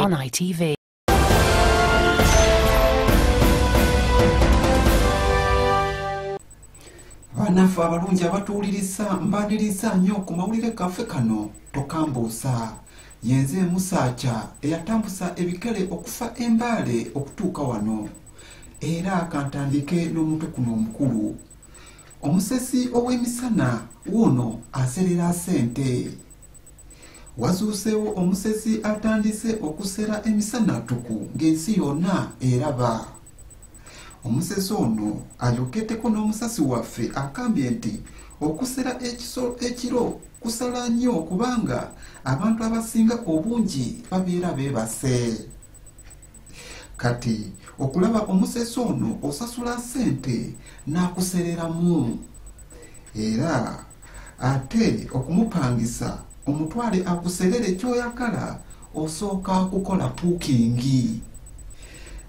On ITV. banaffe abalungi abatuwuliriza mbaniriza nnyo ku mawulire gaffe kano tokambuusa yenze emusaaca eyatambusa ebikere okufa embaale okutuuka wano era kantandike n'omuntu kuno omukulu omusesi ow'emisana wuuno aserera sente wazuuseewo omusesi atandise okusera emisana tuku ng'ensi yonna eraba omusesi ono ayokeddeko n'omusasi waffe akambye nti okusera ekisolo ekiro kusala nnyo kubanga abantu abasinga obungi babeera beebase kati okulaba omusesi ono osasula sente n'akusereramu era ate okumupangisa omutwale akuserere kyoyagala osooka kukola puukingi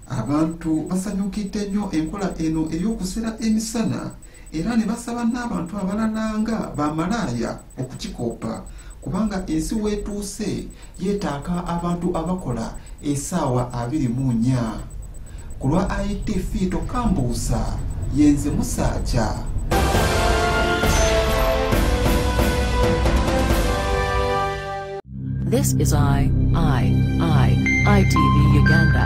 abantu basanyukidde nnyo enkola eno ey'okusera emisana era ne basaba n'abantu abalala nga bamalaaya okukikoppa kubanga ensi weetuuse yeetaaka abantu abakola esaawa abiri mu nnya ku lwa itv tokambuusa yenze musaaja This is I, I, I, ITV Uganda.